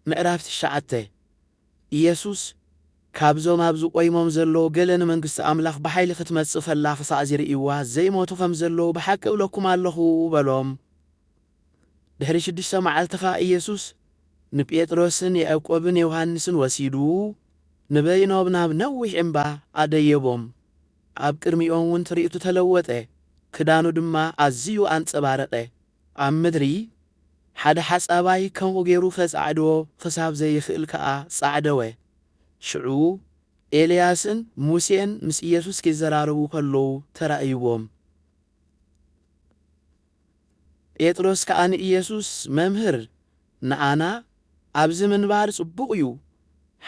ምዕራፍ ትሽዓተ፣ ኢየሱስ ካብዞም ኣብዚ ቆይሞም ዘለዉ ገለ ንመንግስቲ ኣምላኽ ብሓይሊ ክትመጽእ ከላ ክሳዕ ዚርእይዋ ዘይሞቱ ከም ዘለዉ ብሓቂ እብለኩም ኣሎኹ በሎም። ድሕሪ ሽዱሽተ መዓልቲ ኸኣ ኢየሱስ ንጴጥሮስን ያእቆብን ዮሃንስን ወሲዱ ንበይኖም ናብ ነዊሕ እምባ ኣደየቦም። ኣብ ቅድሚኦምውን ትርኢቱ ተለወጠ፣ ክዳኑ ድማ ኣዝዩ ኣንጸባረቐ፣ ኣብ ምድሪ ሓደ ሓጻባይ ከምኡ ገይሩ ኸጻዕዶ ኽሳብ ዘይኽእል ከኣ ጻዕደወ። ሽዑ ኤልያስን ሙሴን ምስ ኢየሱስ ኪዘራረቡ ኸለዉ ተራእይዎም። ጴጥሮስ ከኣ ንኢየሱስ፣ መምህር፣ ንኣና ኣብዚ ምንባር ጽቡቕ እዩ።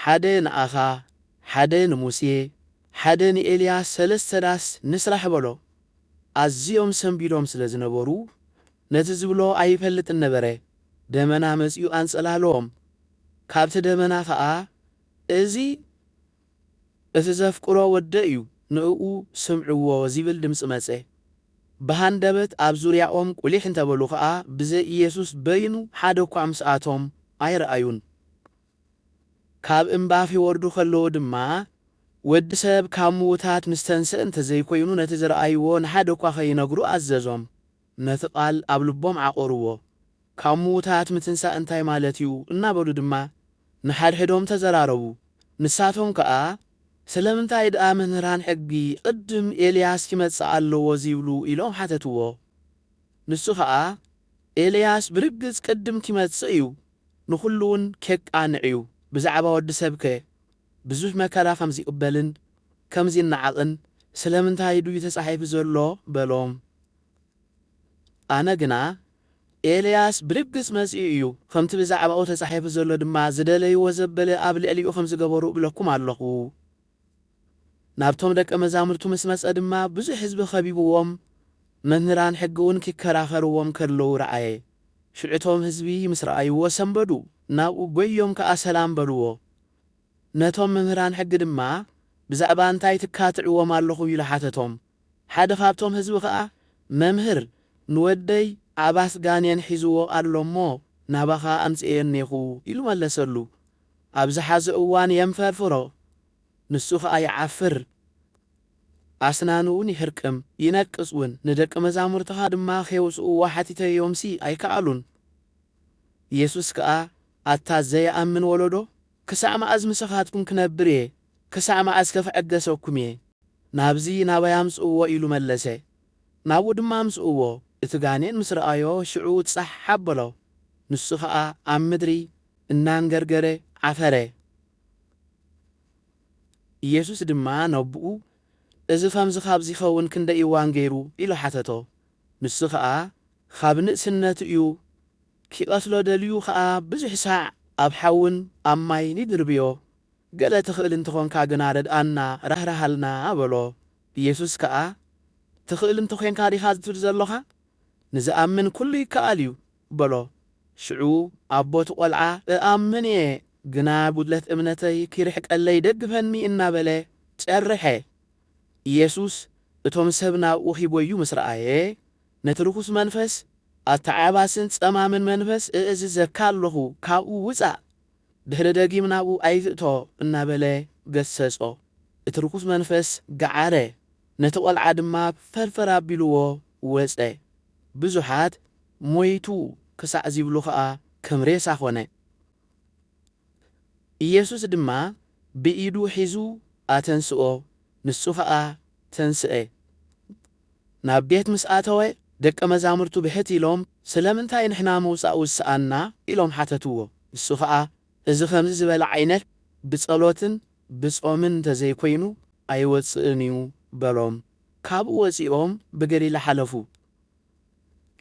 ሓደ ንኣኻ፣ ሓደ ንሙሴ፣ ሓደ ንኤልያስ ሰለስተ ዳስ ንስራሕ በሎ። ኣዝዮም ሰንቢዶም ስለ ዝነበሩ፣ ነቲ ዝብሎ ኣይፈልጥን ነበረ፣ ደመና መጺኡ ኣንጸላልዎም። ካብቲ ደመና ኸኣ፣ እዚ እቲ ዘፍቅሮ ወደይ'ዩ፣ ንእኡ ስምዕዎ ዚብል ድምጺ መጸ። ብሃንደበት ኣብ ዙርያኦም ቍሊሕ እንተ በሉ ኸኣ፣ ብዘይ ኢየሱስ በይኑ ሓደ እኳ ምስኣቶም ኣይረኣዩን። ካብ እምባ ኺወርዱ ኸለዉ ድማ፣ ወዲ ሰብ ካብ ምዉታት ምስ ተንስአ እንተ ዘይኰይኑ፣ ነቲ ዝረኣይዎ ንሓደ እኳ ኸይነግሩ ኣዘዞም። ነቲ ቓል ኣብ ልቦም ዓቘርዎ። ካብ ምዉታት ምትንሳእ እንታይ ማለት እዩ? እናበሉ ድማ ንሓድሕዶም ተዘራረቡ። ንሳቶም ከኣ፣ ስለምንታይ ደኣ መምህራን ሕጊ፣ ቕድም ኤልያስ ኪመጽእ ኣለዎ ዚብሉ? ኢሎም ሓተትዎ። ንሱ ኸኣ፣ ኤልያስ ብርግጽ ቅድም ኪመጽእ እዩ፣ ንኹሉውን ኬቃንዕ'ዩ። ብዛዕባ ወዲ ሰብከ ብዙሕ መከራ ኸም ዚቕበልን ከም ዚነዓቕን ስለምንታይ ድዩ ተጻሒፉ ዘሎ? በሎም። ኣነ ግና፣ ኤልያስ ብርግጽ መጺኡ እዩ፣ ኸምቲ ብዛዕባኡ ተጻሒፉ ዘሎ ድማ ዝደለይዎ ዘበለ ኣብ ልዕሊኡ ኸም ዝገበሩ እብለኩም ኣለኹ። ናብቶም ደቀ መዛሙርቱ ምስ መጸ ድማ ብዙሕ ህዝቢ ከቢብዎም መምህራን ሕጊውን ኪከራኸርዎም ከለዉ ረኣየ። ሽዑ እቶም ህዝቢ ምስ ረኣይዎ ሰንበዱ፣ ናብኡ ጐይዮም ከኣ ሰላም በልዎ። ነቶም መምህራን ሕጊ ድማ ብዛዕባ እንታይ ትካትዕዎም ኣለኹም ኢሉ ሓተቶም። ሓደ ካብቶም ህዝቢ ከኣ መምህር ንወደይ ዓባስ ጋኔን ሒዝዎ ኣሎ እሞ ናባኻ ኣምጺኤዮ እኔኹ ኢሉ መለሰሉ። ኣብዚ ሓዚ እዋን የንፈርፍሮ ንሱ ከኣ ይዓፍር ኣስናኑ ውን ይህርቅም ይነቅጽ ውን ንደቂ መዛሙርትኻ ድማ ኼውጽእዎ ሓቲተዮምሲ ኣይከኣሉን ኢየሱስ ከኣ ኣታ ዘይኣምን ወለዶ ክሳዕ መኣዝ ምሳኻትኩም ክነብር እየ ክሳዕ መኣዝከ ክዕገሰኩም እየ ናብዚ ናባይ ኣምጽእዎ ኢሉ መለሰ ናብኡ ድማ ኣምጽእዎ እቲ ጋኔን ምስ ረኣዮ ሽዑ ጻሕ ኣበሎ ንሱ ከኣ ኣብ ምድሪ እናንገርገረ ዓፈረ። ኢየሱስ ድማ ነቦኡ እዚ ኸምዚ ኻብ ዚኸውን ክንደይ እዋን ገይሩ? ኢሉ ሓተቶ። ንሱ ኸኣ ኻብ ንእስነቱ እዩ፣ ኪቐትሎ ደልዩ ኸኣ ብዙሕ ሳዕ ኣብ ሓውን ኣብ ማይን ይድርብዮ። ገለ ትኽእል እንተ ኾንካ ግና ርድኣና፣ ራህርሃልና፣ በሎ። ኢየሱስ ከኣ ትኽእል እንተ ዄንካ ዲኻ ዝትብል ዘሎኻ? ንዝኣምን ኵሉ ይከኣል እዩ በሎ። ሽዑ ኣቦ እቲ ቈልዓ እኣምን እየ፣ ግና ጕድለት እምነተይ ኺርሕቀለይ ደግፈኒ እናበለ ጨርሐ። ኢየሱስ እቶም ሰብ ናብኡ ኺጐዩ ምስ ረኣየ፣ ነቲ ርኹስ መንፈስ፣ ኣተዓባስን ጸማምን መንፈስ እእዝዘካ ኣሎኹ፣ ካብኡ ውጻእ! ድሕሪ ደጊም ናብኡ ኣይትእቶ እናበለ ገሰጾ። እቲ ርኹስ መንፈስ ገዓረ፣ ነቲ ቈልዓ ድማ ፈርፈር ኣቢልዎ ወጸ። ብዙሓት፣ ሞይቱ ኽሳዕ ዚብሉ ኸኣ ከም ሬሳ ዀነ። ኢየሱስ ድማ ብኢዱ ሒዙ ኣተንስኦ፣ ንሱ ኸኣ ተንስአ። ናብ ቤት ምስ ኣተወ፣ ደቀ መዛሙርቱ ብሕት ኢሎም፣ ስለምንታይ ንሕና ምውጻእ ውስኣና? ኢሎም ሓተትዎ። ንሱ ኸኣ፣ እዚ ኸምዚ ዝበለ ዓይነት ብጸሎትን ብጾምን እንተ ዘይኰይኑ ኣይወጽእን እዩ በሎም። ካብኡ ወጺኦም ብገሊላ ሓለፉ።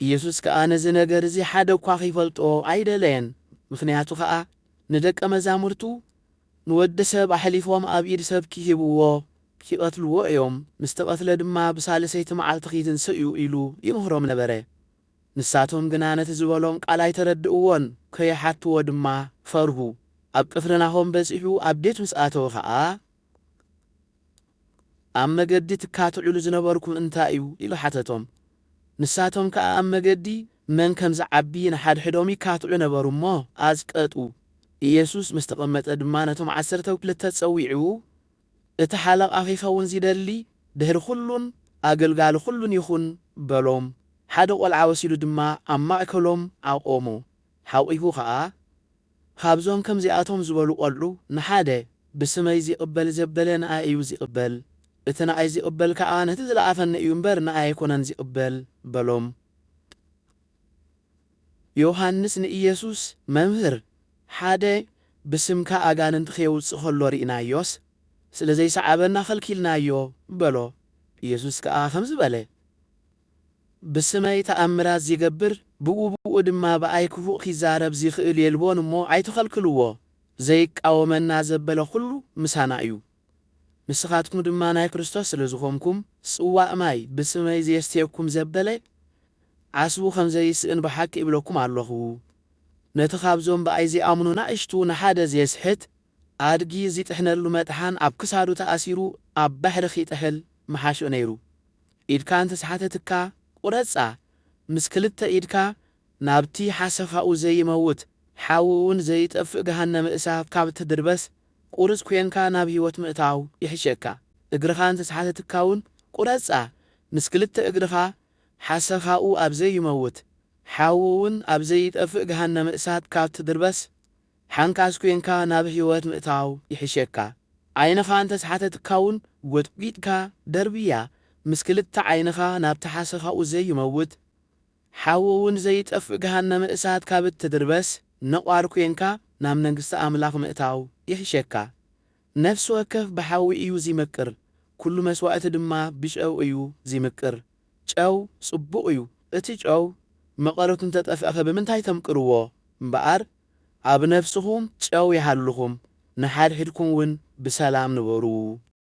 ኢየሱስ ከኣ ነዚ ነገር እዚ ሓደ እኳ ኺፈልጦ ኣይደለየን፣ ምኽንያቱ ኸኣ ንደቀ መዛሙርቱ ንወዲ ሰብ ኣሕሊፎም ኣብ ኢድ ሰብ ኪህብዎ ኪቐትልዎ እዮም፣ ምስ ተቐትለ ድማ ብሳልሰይቲ መዓልቲ ኺትንስእ እዩ ኢሉ ይምህሮም ነበረ። ንሳቶም ግና ነቲ ዝበሎም ቃል ኣይተረድእዎን፣ ከይሓትዎ ድማ ፈርሁ። ኣብ ቅፍርናሆም በጺሑ ኣብ ቤት ምስ ኣተወ ኸኣ፣ ኣብ መገዲ ትካትዑሉ ዝነበርኩም እንታይ እዩ? ኢሉ ሓተቶም። ንሳቶም ከኣ ኣብ መገዲ መን ከም ዚዓቢ ንሓድሕዶም ይካትዑ ነበሩ እሞ፣ ኣዝቀጡ። ኢየሱስ ምስ ተቐመጠ ድማ ነቶም ዓሰርተው ክልተ ጸዊዑ፣ እቲ ሓለቓ ኺኸውን ዚደሊ፣ ድሕሪ ዅሉን ኣገልጋሊ ዅሉን ይኹን በሎም። ሓደ ቈልዓ ወሲዱ ድማ ኣብ ማእከሎም ኣቘሞ። ሓቚፉ ኸኣ፣ ኻብዞም ከምዚኣቶም ዝበሉ ቈልዑ ንሓደ፣ ብስመይ ዚቕበል ዘበለ ንኣይ እዩ ዚቕበል፣ እቲ ንኣይ ዚቕበል ከኣ ነቲ ዝለኣኸኒ እዩ እምበር፣ ንኣይ ኣይኰነን ዚቕበል በሎም። ዮሃንስ ንኢየሱስ መምህር ሓደ ብስምካ ኣጋንንቲ ኼውጽእ ከሎ ርኢናዮስ፣ ስለ ዘይሰዓበና ኸልኪልናዮ በሎ። ኢየሱስ ከኣ ከምዚ በለ፣ ብስመይ ተኣምራት ዚገብር፣ ብኡብኡ ድማ ብኣይ ክፉእ ኪዛረብ ዚኽእል የልቦን እሞ፣ ኣይትኸልክልዎ። ዘይቃወመና ዘበለ ዅሉ ምሳና እዩ። ንስኻትኩም ድማ ናይ ክርስቶስ ስለ ዝኾንኩም፣ ጽዋእ ማይ ብስመይ ዜስትየኩም ዘበለ፣ ዓስቡ ኸም ዘይስእን ብሓቂ እብለኩም ኣሎኹ። ነቲ ኻብዞም ብኣይ ዚኣምኑ ናእሽቱ ንሓደ ዜስሕት፣ ኣድጊ ዚጥሕነሉ መጥሓን ኣብ ክሳዱ ተኣሲሩ ኣብ ባሕሪ ኺጥሕል ምሓሾ ነይሩ። ኢድካ እንተ ሰሓተትካ፣ ቍረጻ፣ ምስ ክልተ ኢድካ ናብቲ ሓሰኻኡ ዘይመውት፣ ሓዊኡውን ዘይጠፍእ ገሃነመ እሳት ካብ እትድርበስ፣ ቁርጽ ኴንካ ናብ ህይወት ምእታው ይሕሸካ። እግርኻ እንተ ተሓተትካውን ቁረጻ፣ ምስ ክልተ እግርኻ፣ ሓሰኻኡ ኣብ ዘይመውት፣ ሓዊኡውን ኣብ ዘይጠፍእ ገሃነመ እሳት ካብ እትድርበስ፣ ሓንካስ ኴንካ ናብ ህይወት ምእታው ይሕሸካ። ዓይንኻ እንተ ተሓተትካውን ጐጥጒጥካ ደርብያ፣ ምስ ክልተ ዓይንኻ ናብቲ ሓሰኻኡ ዘይመውት፣ ሓዊ እውን ዘይጠፍእ ገሃነመ እሳት ካብ እትድርበስ ነቋር ኴንካ ናብ መንግስቲ ኣምላኽ ምእታው ይሕሸካ። ነፍሲ ወከፍ ብሓዊ እዩ ዚምቅር፣ ኵሉ መስዋእቲ ድማ ብጨው እዩ ዚምቅር። ጨው ጽቡቕ እዩ። እቲ ጨው መቐረቱ እንተ ጠፍእኸ ብምንታይ ተምቅርዎ? እምበኣር ኣብ ነፍስኹም ጨው ይሃልኹም፣ ንሓድሕድኩም እውን ብሰላም ንበሩ።